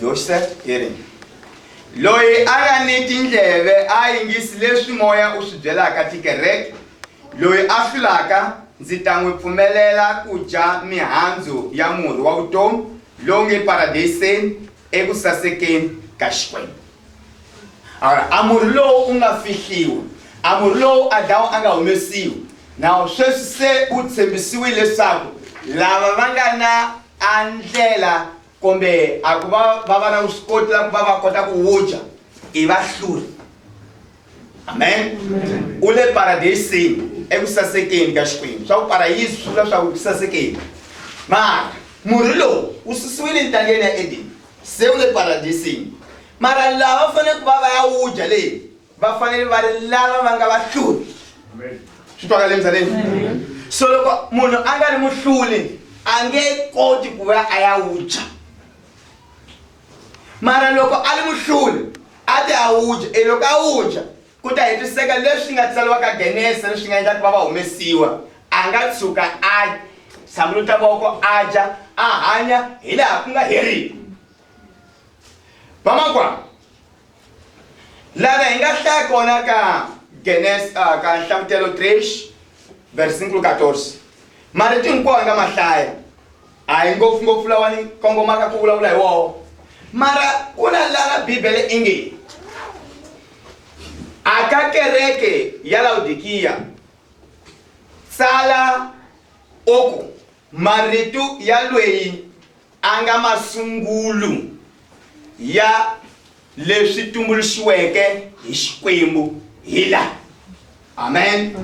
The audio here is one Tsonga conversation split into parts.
Yoxer, Erin. Loyi a nga ni tindleve a yingisi leswi moya u swi byelaka tikereke. Loyi a hlulaka, ndzi ta n'wi pfumelela ku dya mihandzu ya murhi wa vutomi lowu nge paradeyiseni eku sasekeni ka Xikwembu. Awara, a murhi lowu u nga fihliwa, a murhi lowu Adamu a nga humesiwa. Nawu sweswi se u tshembisiwile leswaku lava va nga na a ndlela kumbe a ku va va va na vuswikoti la ku va va kota ku wu dya i va hluri amen u le paradeyisini eku sasekeni ka xikwembu swa ku parayisi swi vula swa ku ku sasekeni mara murhi lowu wu susiwile entangeni ya edeni se wu le paradeyisini mara lava faneleke va va ya wu dya leyi va fanele va ri lava va nga vahluli swi twakale misaveni so loko munhu a nga ri muhluli a nge koti ku va a ya wudya mara loko a ri muhluli a ti a wudya e loko a wudya ku ta hetiseka leswi nga tsaliwa ka genese leswi nga endla ku va va humesiwa a nga tshuka a tshamuluta voko a dya a hanya hi laha ku nga heriki vamakwaa lana hi nga hlaya kona ka genes uh, ka nhlamutelo 3 versikulo 14 marito hinkwawo hi nga ma hlaya a hi ngopfungopfu lawa ni kongomaka ku vulavula hi wowo mara ku na lana bibele i nge a ka kereke ya lawudikiya tsala oku Marito ya lweyi a nga masungulu ya leswi tumbuluxiweke hi Xikwembu hi la. Amen.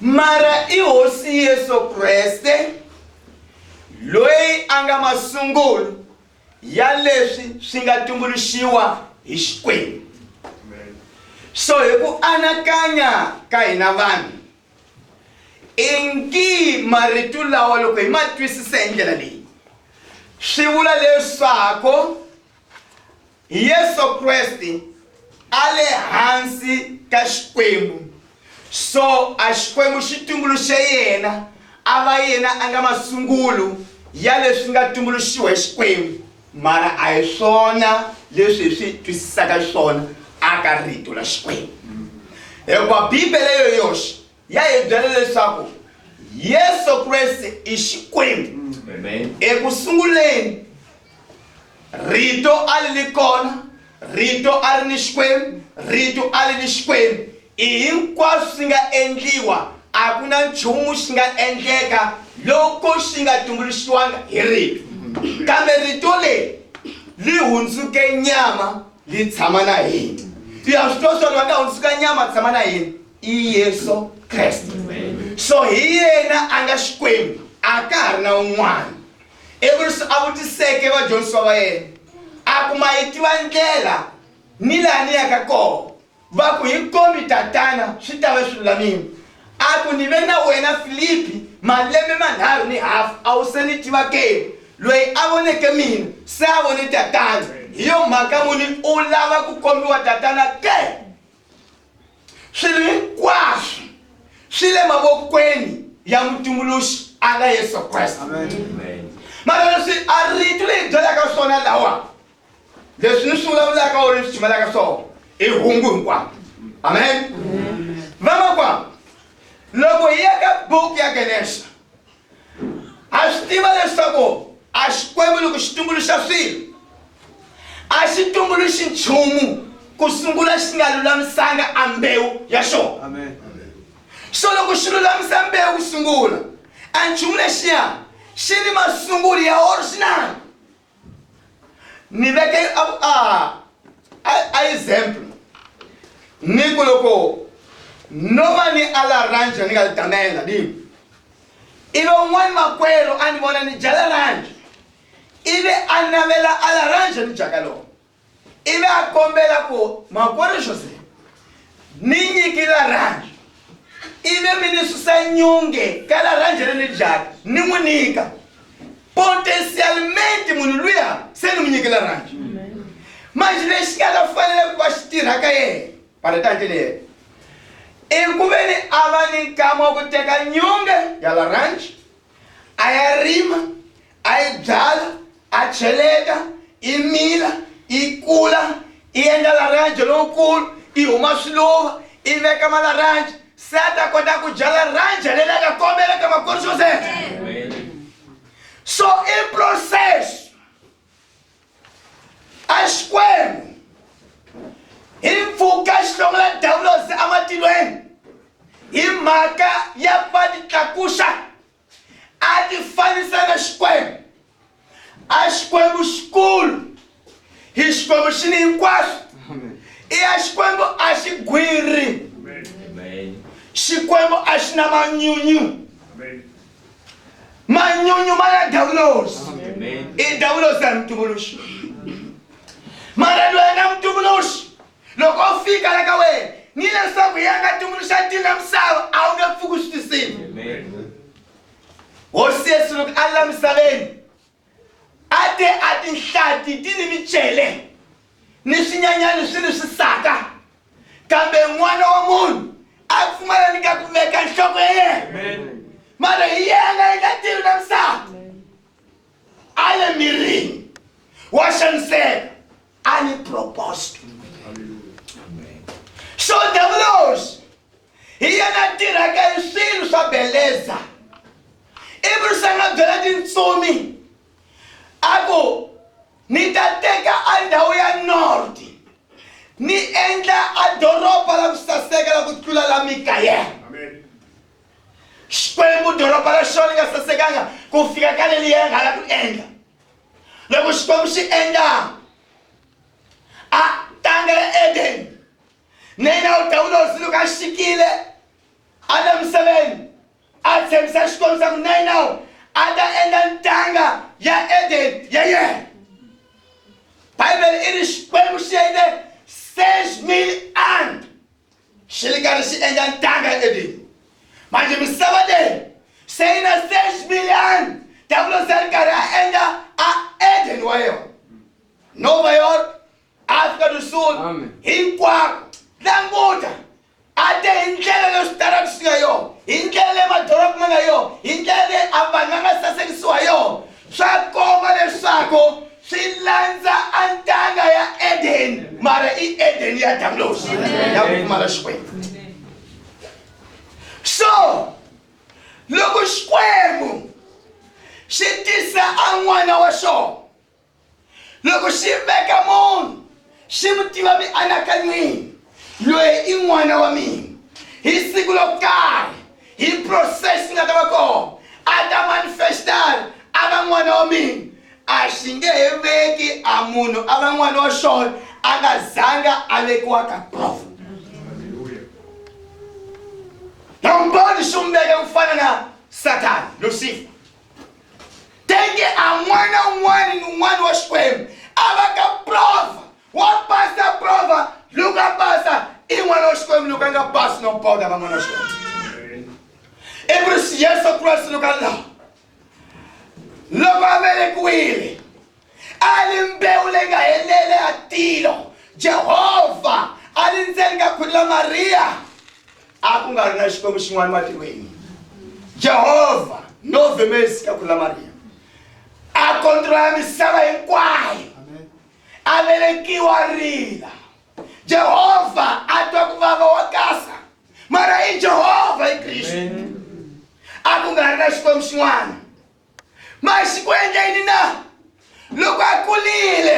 Mara i Hosi Yesu Kreste lweyi a nga masungulu ya leswi swi nga tumbuluxiwa hi Xikwembu. So hi ku anakanya ka hina vanhu, Ingi marito lawa loko hi ma twisisa hi ndlela leyi swi vula leswaku Yesu Kreste a le hansi ka Xikwembu so a Xikwembu xi tumbuluxe yena a va yena a nga masungulo ya leswi nga tumbuluxiwa hi Xikwembu mara a hi swona leswi hi swi twisisaka xiswona aka rito ra xikwembu hikuva bibele yo yoxe ya hi byela leswaku yesu kreste i xikwembu eku sunguleni rito a li li kona rito a ri ni xikwembu rito a li ni xikwembu I hinkwaswo swi nga endliwa, a ku na nchumu xi nga endleka loko xi nga tumbuluxiwanga hi Rito. Kambe Rito leri li hundzuke nyama li tshama na hina. I ha swi twa swa lwa nga hundzuka nyama a tshama na hina i Yesu Kreste. So hi yena a nga Xikwembu, a ka ha ri na un'wana. Ivi leswi a vutiseke vadyondzisiwa va yena a ku, Ma yi tiva ndlela ni laha ni yaka kona? Va ku, Hi kombi tatana, swi ta va swi lulamile. A ku, Ni ve na wena Filipi malembe manharhu ni hafu, a wu se ni tiva ke? Loyi a voneke mina, se a vone tatana. Hi yo mhaka muni u lava ku kombiwa tatana ke? Swilo hinkwaswo swi le mavokweni ya mutumbuluxi a nga Yesu Kreste. Mara leswi a rito leyi byelaka swona lawa leswi ni swi vulavulaka or ni swi tshimelaka swona i hungu hinkwavo amen vamakwavo loko hi ya ka buku ya genexa a swi tiva leswaku a xikwembu loko xi tumbuluxa swilo a xi tumbuluxi nchumu ku sungula xi nga lulamisanga a mbewu ya xona so loko xi lulamisa mbewu ku sungula a nchumu lexiya xi ni masunguli ya or xi na ni veke a, a, a, a example ni ku loko no va ni alaranje ni nga tamela ni ive un'wana makwerhu a ni vona ni dya laranje ivi a navela alaranje ni dyaka loko ivi a kombela ku makwerhu jose ni nyiki laranje ivi mi ni susa nyunge ka laranje ri ni dyaka ni n'wi nyika potencialmente munhu luya se ni n'wi nyiki laranje manje lexi nga ta fanele ku va xi tirha ka yena paretanje ni yena i ku ve ni a va ni nkama wa ku teka nyunge ya laranje a ya rima a yi byala a cheleta i mila i kula i endla laranje lowukulu i huma swiluva i veka malaranje se a ta kota ku dya laranje leri a nga kombela ka makwerhu joseph so i process a xikwembu hi mpfuka xihlongela dawulosi ematilweni hi mhaka ya ku va titlakuxa a ti fanisa na Xikwembu. A Xikwembu xikulu hi Xikwembu xi ni hinkwaswo. I ya Xikwembu a xi gwiri. Xikwembu a xi na manyunyu. Manyunyu ma ya dawulosi. I dawulosi a hi mutumbuluxi. Mara loyi a nga mutumbuluxi Loko u fika la ka wena ni leswaku ya nga tumbuluxa tini na misava a wu nge pfuki u swi tisini hosi yesu loko a la misaveni a te a tinhlati ti ni micele ni swinyanyani swi ni swisaka kambe n'wana wa munhu a pfumala ni ka ku veka nhloko ya yena mara hi yena yi nga tivi na misava a le mirini wa xaniseka a ni propose to me so davulosi hi yena tirhaka hi swilo swa beleza ivi ri sanga byela tintsumi a ku ni ta teka a ndhawu ya north ni endla a doroba la ku saseka la ku tlula la mikayela xikwembu doroba ra xona ni nga sasekanga ku fika ka leliya nga la ku endla loko xikwembu xi endla a tanga ya edeni na yena u dawula hosi loko a xikile a le misaveni a tshembisa xikwembu xa ku na yena a ta endla ntanga ya edeni ya yena bibele i ri xikwembu xi endle seis mil an xi ri karhi xi endla ntanga edeni manje misava leyi se yi na six million diabolos a ri karhi a endla a eden wa yona nova york africa do sul hinkwako languta a te hi ndlela leyi switaratu swi nga yona hi ndlela leyi madoroba ma nga yona hi ndlela leyi a vanhu va nga sasekisiwa yona Swa komba leswaku swi landza a ntanga ya edeni mara i edeni ya davulosi ya ku pfumala xikwembu so loko xikwembu xi tisa a n'wana wa xona loko xi veka munhu xi n'wi tiva mianakanyweni loyi i n'wana wa mina hi siku lo karhi hi process nga ta va kona a ta manifestar a va n'wana wa mina a xi nge he veki a munhu a va n'wana wa xona a nga zanga a vekiwa ka profit nambani xi n'wi veka ku fana na satani lusifa tenge amwana un'wana ni un'wana wa xikwembu a va ka prova wa pasa prova loko a pasa i n'wana wa xikwembu loko a nga pasi no boda va n'wana wa xikwembu i ku ri yesu kreste loko a laha loko a velekiwile A ri mbewu leyi nga helela ya tilo. Jehovha a ri ndzeni ka khwiri la Mariya. A ku nga ri na Xikwembu xin'wana matilweni. Jehovha no vemesi ka khwiri la Mariya. A kontrola misava hinkwayo. A velekiwa rila. Jehovha a twa ku vava wa kasa. Mara i Jehovha i Kristu. A ku nga ri na Xikwembu xin'wana. ma xi ku endla yini na loko a kulile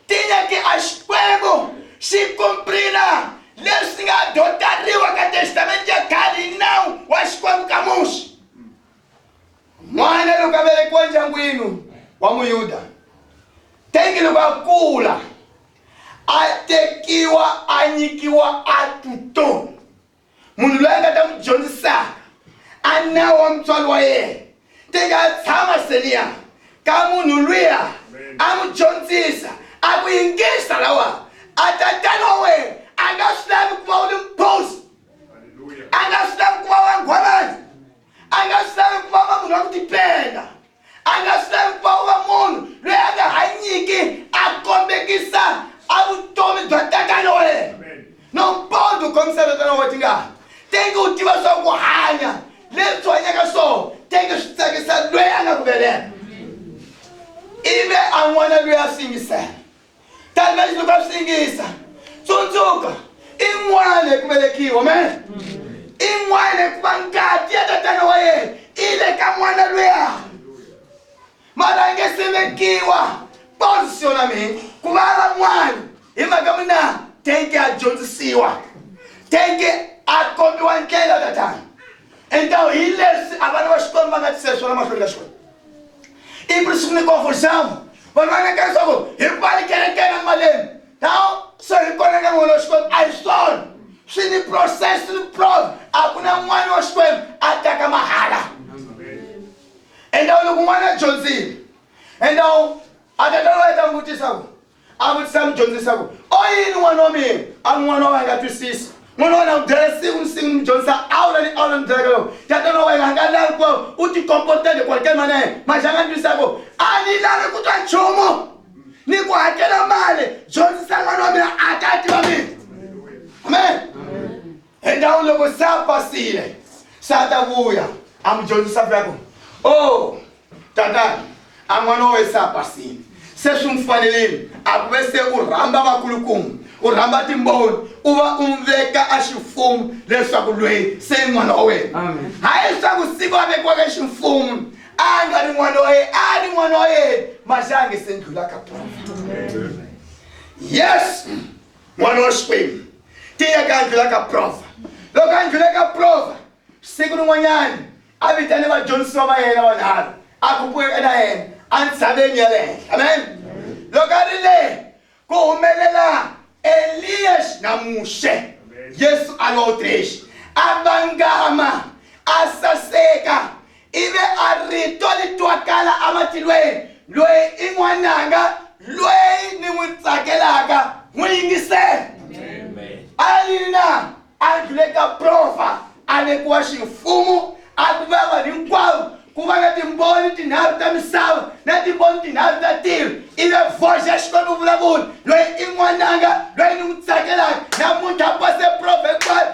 tinya ti a xikwembu xi kumprina leswi nga dotariwa ka testamente ya khale hi nawu wa xikwembu ka muxi n'wana loko a velekiwa ndyangwini wa muyuda tengi loko a kula a tekiwa a nyikiwa a tutoni munhu loyi a nga ta n'wi dyondzisaka a nawu wa mutswari wa yena ti nga tshama seniya ka munhu luya a n'wi dyondzisa a ku yingisa lawa a tatana wa wena a nga swi lavi ku va u ri mposi a nga swi lavi ku va wangwanani a nga swi lavi ku va va munhu wa ku tipenda A nga swi lavi ku va u va munhu loyi a nga hanyiki a kombekisa a vutomi bya tatana wa yena. No mpondo u kombisa tatana wa wena tingana. Tenge u tiva swa ku hanya leswi hanyaka swona tenge swi tsakisa loyi a nga ku veleka. Ivi a n'wana loyi a swi yingisela. kambe xilo ka swi yingisa tsundzuka i n'wana hi ku velekiwa me i n'wana hikuva ngati ya tatana wa yena i le ka n'wana luya mara a nge se vekiwa posisiona mina ku va va n'wana hi mhaka mina teke a dyondzisiwa teke a kombiwa ndlela tatana entawu hi leswi a vana va xikwembu va nga tiseswona mahlweni ka xikwembu i buri sungule kofolisamu vanhu va neka leswaku hi pali kerekeni emaleni ta so hi kona ka n'wana wa xikwembu a hi swona swi ni process swi ni prov a ku na n'wana wa xikwembu a taka mahala enda loko n'wana a dyondzile enda a tatana wa yeta n'wi vutisa ku a vutisa mudyondzi leswaku o yini n'wana wa mina a ri n'wana wa wena nga twisisi n'wana wa wena n'wi byela siku ni siku ni mudyondzisa a wu la ni a wu la ni byelaka loko ya tana wa wena a nga lavi ku u tikomportele ku hakela mali ya yena manje a nga ni twisisako a ni lavi ku twa nchumu ni ku hakela mali dyondzisa n'wana wa mina a ta tiva mina amen Endhawini loko se a pasile se a ta vuya a mi dyondzisa vuya ku o oh, tatani a n'wana wa we se a pasile se swi n'wi fanelini a ku ve se u rhamba vakulukumba u rhamba timboni u va u n'wi veka a ximfumo leswaku lweyi se i n'wana wa wena hayi leswaku siku a vekiwaka ximfumo a nga ri n'wana wa yena a ri n'wana wa yena maxange se ndlula ka tona yes n'wana wa xikwembu tiya ka ndlula ka prova loko a ndlule ka prova siku rin'wanyana a vitane vadyondzisiwa va yena vanharhu a kupueka na yena entshaveni ya le henhla amen loko a ri le ku humelela eliya na muxe yesu a lo trexi a vangama a saseka I ve a rito li twakala ematilweni, Loyi i N'wananga loyi ni n'wi tsakelaka, n'wi yingiseni. A ya yini na? A ndlhule ka profa, a vekiwa ximfumo, a ku va vanhu hinkwavo, ku va na timboni tinharhu ta misava na timboni tinharhu ta tilo. I ve voxe ya Xikwembu vulavula, loyi i n'wananga loyi ni n'wi tsakelaka. Namuntlha a pase prova hinkwayo,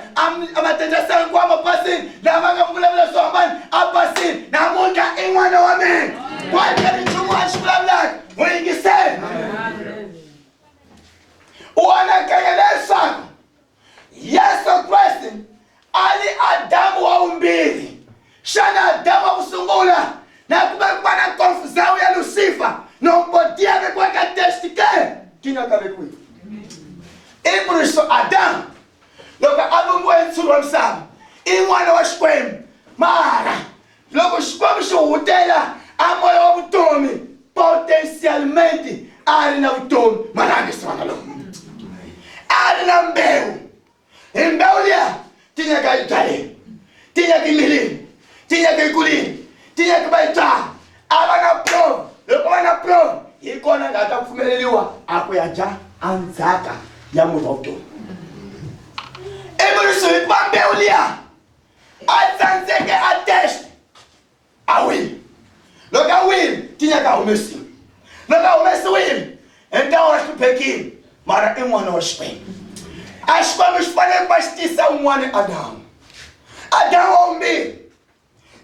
a matenjasela hinkwayo ma pasile, lama nga n'wi vulavula swo hambana a pasile. Namuntlha i n'wana wa mina, kwate ri nchumu a xi vulavulaka n'wi yingisela. U anakanya leswaku yesu kreste a ri adamu wa vumbirhi xana adamu wa ku sungula na ku vekiwa na konfuzawu ya lusifa nongo ti ya vekiwa ka testi ke ti nga ka vekiwi i muriso adamu loko a vumbiwa hi ntshuri wa misava i n'wana wa xikwembu mara Loko Xikwembu xi hutela a moya wa vutomi, potencialmente a ri na vutomi, mara a nge se va na loko a ri na mbewu. Hi mbewu liya tinyaka yi byaleni, tinyaka yi mirini, tinyaka yi kulini, tinyaka va yi byala, a va na prove. Loko va na prove hi kona nga ta pfumeleriwa a ku ya dya andzhaka ya murhi wa vutomi. Ivi ri swi hikuva mbewu liya a tsandzeke a test a wile loko a wile tinya ta humesiwa loko a humesiwile hi ntawo wa hluphekile mara i n'wana wa xikwembu a xikwembu xi fanele ku va xi tisa un'wana adamu adamu wa vumbirhi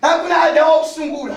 na ku na adamu wa ku sungula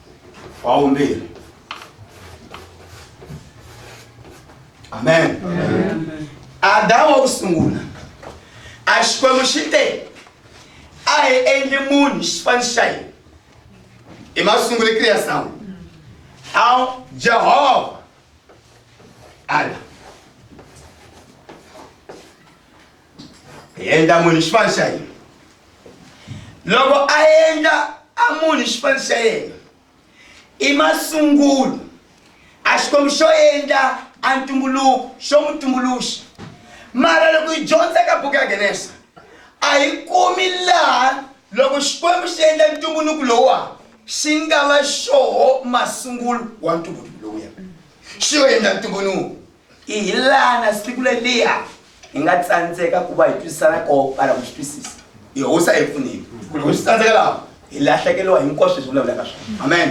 wa vumbirhi amen adamu wa ku sungula a xikwembu xi te a hi endli munhu xifani xa hina i masungule kriyasawu a jehovha ala hi endla munhu xipano xa hina loko a endla a munhu xipano xa yena i masungulo a xikwembu xo endla a ntumbuluko xo n'wi tumbuluxa mara loko hi dyondza ka buku ya genesa a hi kumi laha loko xikwembu xi endla ntumbuluko lowuwa xi nga va xoho masungulo wa ntumbuluko lowuya xi yo endla ntumbuluko I hi lana siku leliya hi nga tsandzeka ku va hi twisisana ko ala ku swi twisisa yehosa hi pfunile ku loko swi tsandzeka laha hi lahlekeriwa hinkwaswo leswi vulavulaka swona amen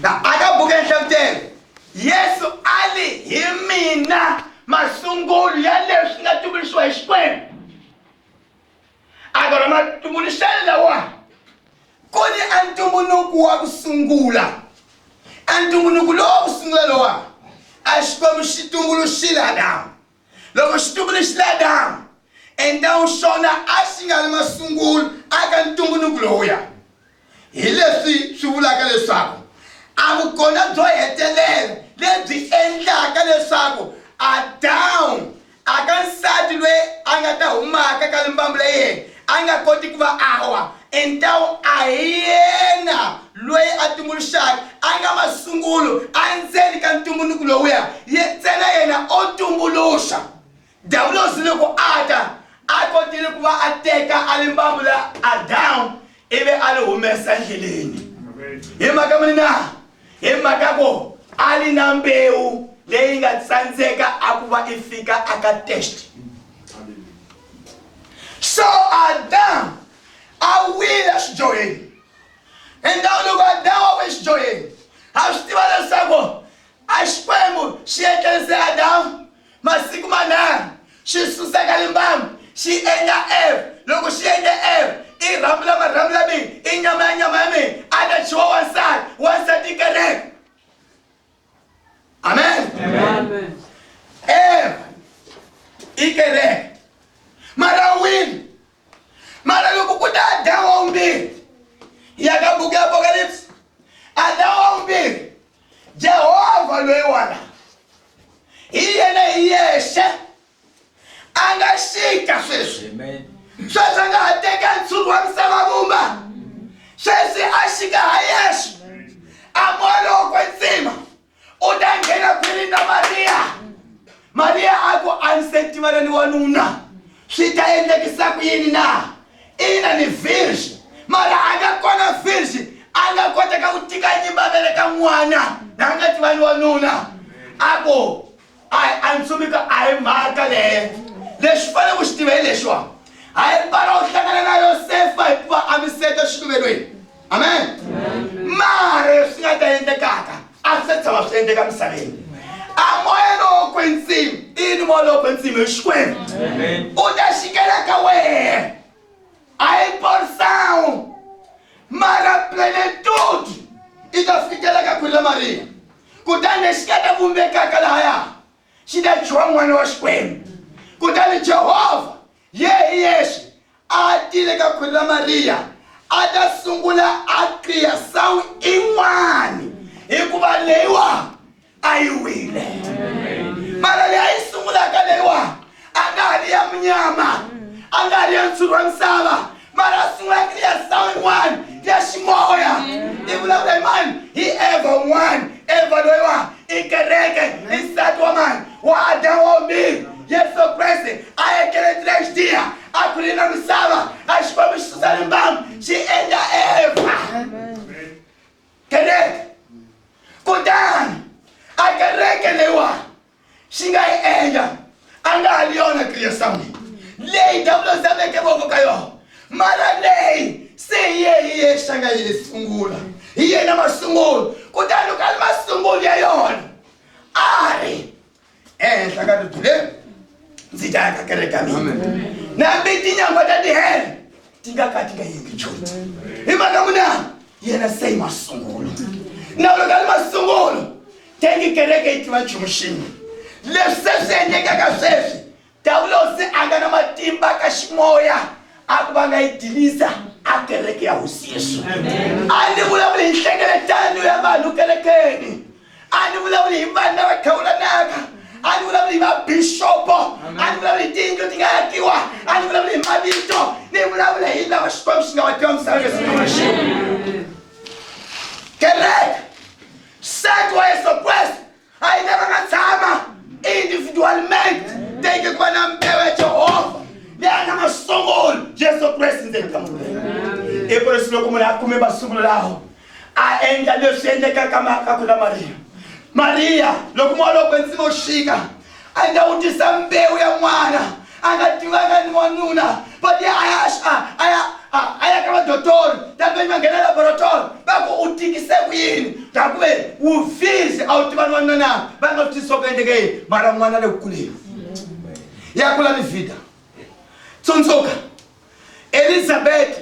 na aka buku ya nhlavutelo yesu a li hi mina masungulo ya leswi nga tumbuluxiwa hi xikwembu a va ma tumbuluxele lawa ku ni a ntumbuluku wa ku sungula a ntumbuluku lowu wa ku sungula lowa a xikwembu xi tumbuluxile adamu loko xi tumbuluxile adamu endhawu xona a xi nga ri masungulo aka ntumbuluku lowuya Hi leswi swi vulaka leswaku a vukona byo hetelela lebyi endlaka leswaku Adamu a ka nsati loyi a nga ta humaka ka limbambu la yena a nga koti ku va awa entawu a hi yena loyi a tumbuluxaka a nga masungulo endzeni ka ntumbuluko lowuya ye ntsena yena o tumbuluxa Diavulosi loko a ta, a kotile ku va a teka a limbambu la Adamu ivi a li humesa endleleni. Hi mhaka muni na? Hi mhaka ku a li na mbewu leyi nga tsandzeka a ku va i fika aka test so adamu a wile xidyoheni endhawu loko adamu a wile xidyoheni ha swi tiva leswaku a xikwembu xi etlerise adamu Masiku manharhu xi suseka limbamu xi endla Eva, loko xi endle Eva i rhambu la marhambu la mina, i nyama ya nyama ya mina, a ta dyiwa wansati, wansati i kereke. Amen. Amen. Eva i kereke. Mara wini. Mara loko ku ta Adamu wa vumbirhi, ya ka buku ya Apokalipsi, Adamu wa vumbirhi jehovha loyi wala hi yena hi yexe a nga xika sweswi sweswi a nga ha teka ntshuri wa misava vumba sweswi a xika ha yexe a molokwe ntsima u ta nghena khwirini na mariya mariya a ku a ni se tivana ni wanuna swi ta endlekisa ku yini na Ina ni virgin mara anga kona virgin anga kota ka ku tika nyimba vele ka n'wana na nga tivani wa nuna a ku a a ntsumika a hi mhaka leyo lexi fanele ku xi tiva hi lexiwa hayi pala u hlangana na yosefa hikuva a mi seta xiluvelweni amen mara leswi nga ta endlekaka a swi se tshama swi endleka misaveni a moya lowo kwetsima ini moya lowo kwetsima hi xikwembu u ta xikela ka wena a yi borisawu mara plenitude i ta fikela ka khwiri la mariya kutani lexi nga ta vumbekaka lahaya xi ta dyiwa n'wana wa xikwembu kutani jehovha Yehe hi yexe a a tile ka khwiri ra Mariya a ta sungula a qiya sawu in'wani hikuva leyiwa a yi wile mara leyi a yi sungulaka leyiwa a nga ha ri ya munyama a nga ha ri ya ntshuri wa misava mara a sungulaka ni ya sound one ya ximoya i vulavula hi mani hi eva un'wana eva loyiwa i kereke i nsati wa mani wa adamu wa vumbirhi yesu kreste a ekeletsile xidiya a khulile na misava a xi fambi xi susa limbamu xi endla eva kereke kutani a kereke leyiwani xi nga yi endla a nga ha ri yona kriya samwini leyi davula zameke voko ka yona mara leyi se hi ye hi ye xa nga yi sungula hi yena masungulo kutani loko a ri masungulo ya yona a ri ehenhla ka ribye leri ndzi ta ya ka kereka mina nambe tinyangwa ta tihele tingaka tingaendi joti imaka munani yena sei masungulo naulokali masungulo tengi kereke itiva chumuxini leswi se swi endlekaka sweswi dawulosi a nga na matimba ka ximoya a ku va nga yi dilisa a kereke ya hosi yesu a ni vulavuli hi nhlengeletano ya vanhu kerekeni a ni vulavuli hi vanhu lava thawulanaka a ni vulavuli hi vabixopo a ni vulavuli hi tiyindlu ti nga yakiwa a ni vulavuli hi mavito ni vulavula hi lava xikwembu xi nga va dyondzisaka siku na xin'we kereke sat wa yesu kreste a yi lava nga tshama individualmente teke ku va na mbewu ya jehovha leyi a nga masungulo yesu kreste ndzeni ka munhu i ku leswi loko munhu a kume masungulo lawo a endla leswi endlekaka marka ku na mariya mariya loko moya loko kwetsima wu xika a nga wu tisa mbewu ya n'wana a nga tivanga ni wanuna but a ya a ya a ya ka vadotori tanivenyi va nghena laboratori va ku u tikise ku yini ta ku ve wu fisi a wu tiva ni wanuna na va nga swi tisiwa ku endleke yini mara n'wana le ku kuleni ya kula ni vida tsundzuka elizabeti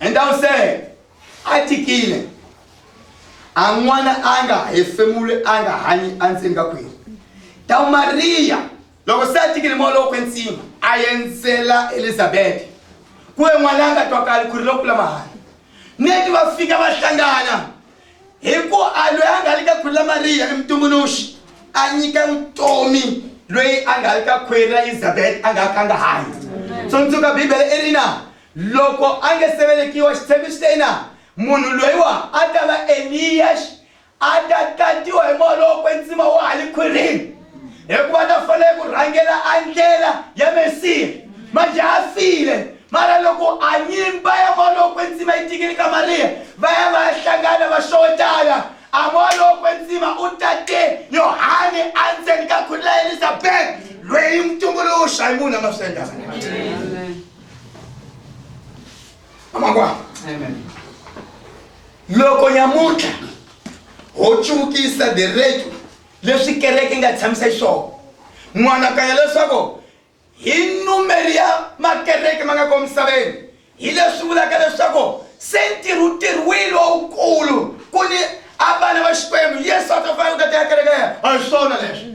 And I'm saying, a tikile a n'wana a nga hefemuli a nga hanyi endzeni ka khwiri ta mariya loko se a tikile moya lowo kwensima a endzela elizabete ku ve n'wana a nga twakali khwiri lokula mahani neti va fika va hlangana hi ku a loyi a nga le ka khwiri la mariya i mutumbuluxi a nyika vutomi loyi a nga le ka khwiri la elizabete a nga ka nga hanyi tsundzuka bibele i ri na Loko a nge se velekiwa, Xiphemu xi te ina, munhu loyiwa a ta va Eliyaxi, a ta tatiwa hi moya lowo kwetsima wa hale khwirini, hikuva a ta fanele ku rhangela andlela ya Mesiya. Manje a file, mara loko a nyimba ya moya lowo kwetsima yi tikile ka Mariya, va ya va ya hlangana va xowetana, a moya lowo kwetsima u tate Yohane andzeni ka khwiri la Elizabeta, lweyi mutumbuluxa hi munhu a nga swi endla. amakwa loko nyamuntlha ho cukisa deretu leswi kereke nga tshamisa xiswona n'wanakanya leswaku hi numeri ya makereke ma nga ko misaveni hi leswi vulaka leswaku se ntirhu tirhwini wawukulu ku ni a vana va xikwembu yesu a ta fana u ta tiyakerekeya a hi swona leswi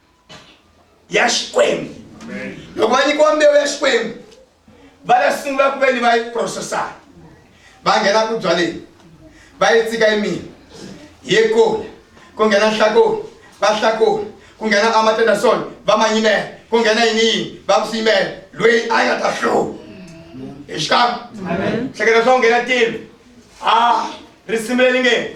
ya xikwembu loko va nyikiwa mbewu ya xikwembu va ta sungula ku ve ni va yi processaka va nghena ku byaleni va yi tsika yimini yi kula ku nghena nhlakoni va hlakula ku nghena amatenderson va ma yimela ku nghena yini yini va ku swi yimela loyi a nga ta hluva hi xikan'we hleketa swa ku nghena tilo a risimu leri nge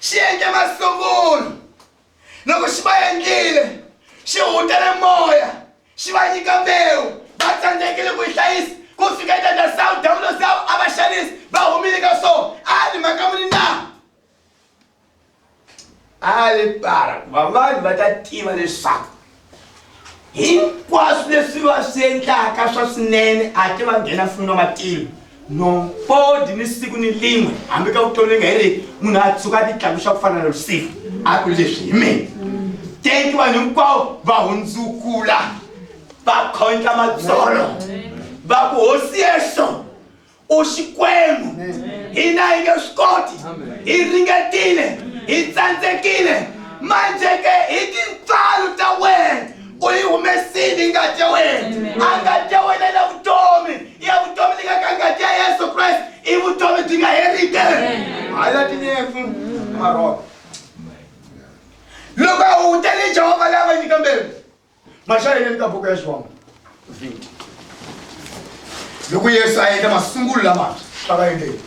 xi endle masungulo loko xi va endlile xi hutele moya xi va nyika mbewu va tsandzekile ku yi hlayisa ku fika eka ta sawu dawulo sawu a va xanisi va humile ka swona a ni mhaka muni na a li para ku va vanhu va ta tiva leswaku hinkwaswo leswi va swi endlaka swa swinene a ti va nghena fumi na matilo nompodi ni siku ni lin'we hambi ka vutomi nga hi ri munhu a tshuka a titlakuxa ku fana na lusifa a ku leswi hi mina tenki vanhu hinkwavo va hundzukula va khondla matsolo va ku hosi yexo u xikwembu hina hi nge swi koti hi ringetile hi tsandzekile manje ke hi tintswalo ta wena u yi humesile ngati ya wena a ngati ya wena na vutomi ya vutomi leyi nga ka ngati ya yesu kreste i vutomi byi nga herike hayi ya tinyefu marhoko loko a hunguta ni jehovha lava nyika mbewu mashayeneni ka buku ya xivangu 20 loko yesu a endla masungulo lama a va endleni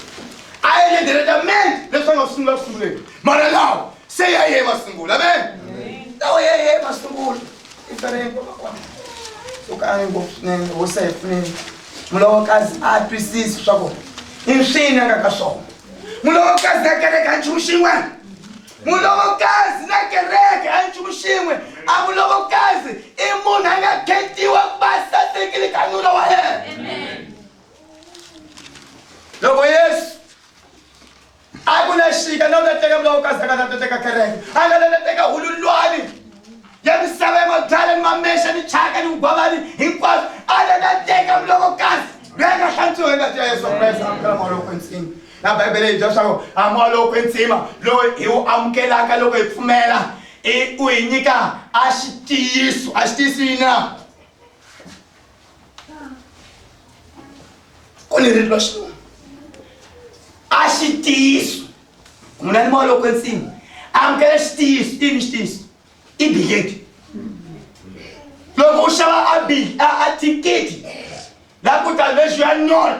a endle diretamente leswi va nga ku sungula ku sunguleni mara lawa se ya ye masungulo amen lawa ya ye masungulo i tsale nkoka kona u kange ngopfu swinene hosi a hi pfuneni mulovokazi a twisisi swa ku i nswini a nga ka swona mulovokazi a kereka nchumu xin'wana mulovokazi na kereke a nchumu xin'we a mulovokazi i munhu a nga khetiwa ku va sasekile ka nuna wa yena loko yesu a ku na xika na u ta teka mulovokazi a nga ta ta teka kereke a nga ta ta teka hululwani ya misava ya mabyala ni mamexa ni chaka ni vugwavani hinkwaswo a ta ta teka mulovokazi loyi a nga hlantswiwa hi ngati ya yesu a ku na yesu amukela mawolo kwensini Na Bibele yi byela swaku a moya lowo kwetsima lowu hi wu amukelaka loko hi pfumela i u hi nyika a xitiyiso a xitiyiso yini na ku ni ririlo xin'wana a xitiyiso munhu a ni moya lowo kwetsima amukela xitiyiso i ni xitiyiso i bileti loko u xava a thikithi la ku ta lexi ya nona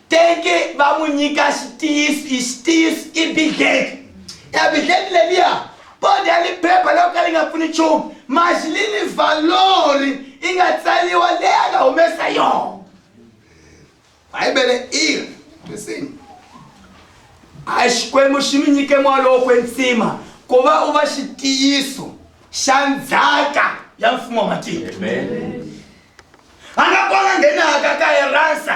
Teke va n'wi nyika xitiyiso, i xitiyiso, i bidleki. Ebidleki leliya, poda ni phepha loko ka li nga pfuni nchumu, maxi li ni valori i nga tsaliwa leyi a nga humesa yona. Bibele i ri, Listen. A Xikwembu xi mi nyike moya lowo kwetsima ku va u va xitiyiso xa ndzhaka ya mfumo wa matiko. Amen. A nga kona nghenaka ka eransa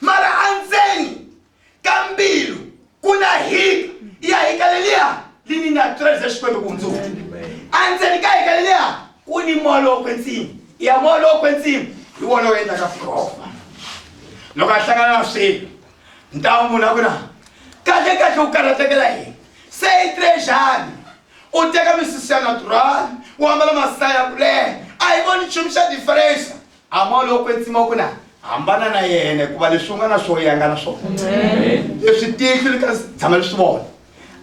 mara andzeni ka mbilu ku na hika ya hika leliya li ni nga tweleze xikwembu ku hundzuka andzeni ka hika leliya ku ni moya lowo kwetsima ya moya lowo kwetsima hi wona wu endlaka furova loko a hlangana na swilo ntawu munhu a ku na kahle kahle u karhatekela yini se i trejani u teka misisi ya natural u ambala masaya kule a hi voni nchumu xa diferensa Amol u kwetsima ku na hambana na yena hikuva leswi u nga na swo ya nga na swona leswi tihlo li ka tshama leswi vona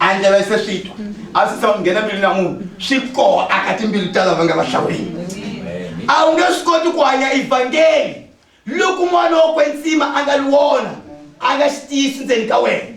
a ndleve se swi twa a swi tshama nghena mbilu na munhu swi koho aka timbilu ta lava nga vahlawuleni a wu nge swi koti ku hanya evhangeli loko n'wana wa kwetsima a nga li wona a nga xi tiyisi ndzeni ka wena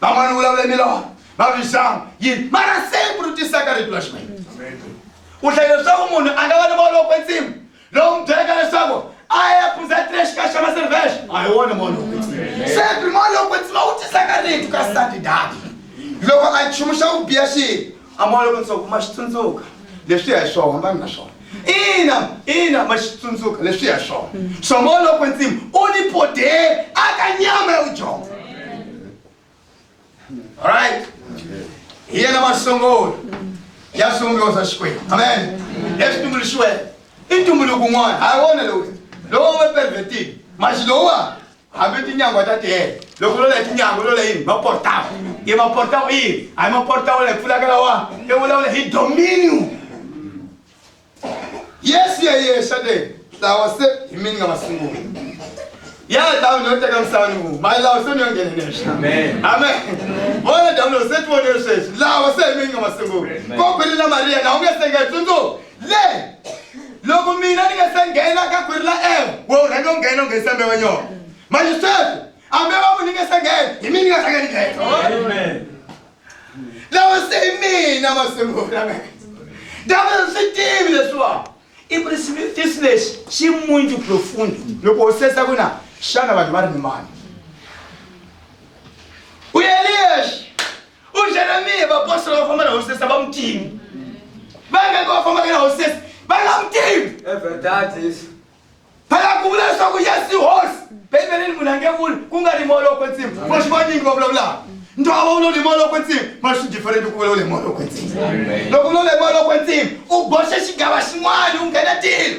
van'wana vulavula hi milorho va vixama yini mara siku ri tisaka rito ra xikwembu u hlayile leswaku munhu a nga va ni volo kwensimu lowu n'wi byelaka leswaku a ya phuza tire xikaya xa maservexo a hi wona molo sepi molo kwetsima wu tisaka rito ka sati dati loko a nchumu xa ku biya xi a moya loko ndzi ku ma swi tsundzuka leswi ya hi swo hambani na swona ina ina ma swi tsundzuka leswi ya swona swa moya loko ndzimi u ni poderi aka nyama ya vudyondzo right hi yena masungula ya swivumbiwa swa xikwembu amen leswi tumbuluxiweke i ntumbuluko un'wana ha wona lowu lowu we pervertile maxi lowuwa hambi tinyangwa ta tele loko lola hi tinyangwa lola yini maportawo i maportawo yini a hi maportawo la hi pfulaka lawa i vulavula hi dominion yesu yeyexa le lawa se hi mi ni nga masungula ya dawu ni yo teka misava ni vuma mali lawa se ni yo nghenenexa amen vona dawu lo se ti vonile sweswi lawa se hi mi ni nga masungula ko khwelile mariya na u nge sengetsundzuka le loko mina ni nga se nghena ka khwiri la ewa we u rhange u nghena u nghenisa mbewa nyoko manje sweswi ambewa munhu ni nga se nghena hi mina ni nga rhange ni nghena lawa se hi mina masungula ndava swi tivi leswiwani i ku ri xivutiso lexi xi munju profundo loko u sesa ku na xana vanhu va ri ni mani u yeliyexi ujeremiya vapostora va famba na hosesi a va mu tivi vangaka va fambaka na hosesi va nga mu tivi phela ku vula leswaku yesu hosi bibeleni munhu a nge vuli ku nga ri moloko ntsimi ma swi vanyingi va vulavulaka ntwava wu lo ni moloko ntsimi ma swi diferenti ku vula wu le moloko ntsimi loko u lo le moloko ntsimi u boxe xigava xin'wana u nghena tilo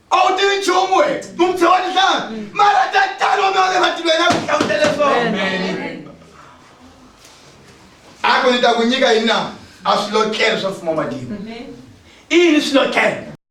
a wu tivi nchumu we mumpfhe wa nhlanga mm. mara tatani wa mina wa le matilweni a ku hlamutele swona a ku ni ta ku nyika yini na a swilotlelo swa mfumo wa matimu i yini swilotlelo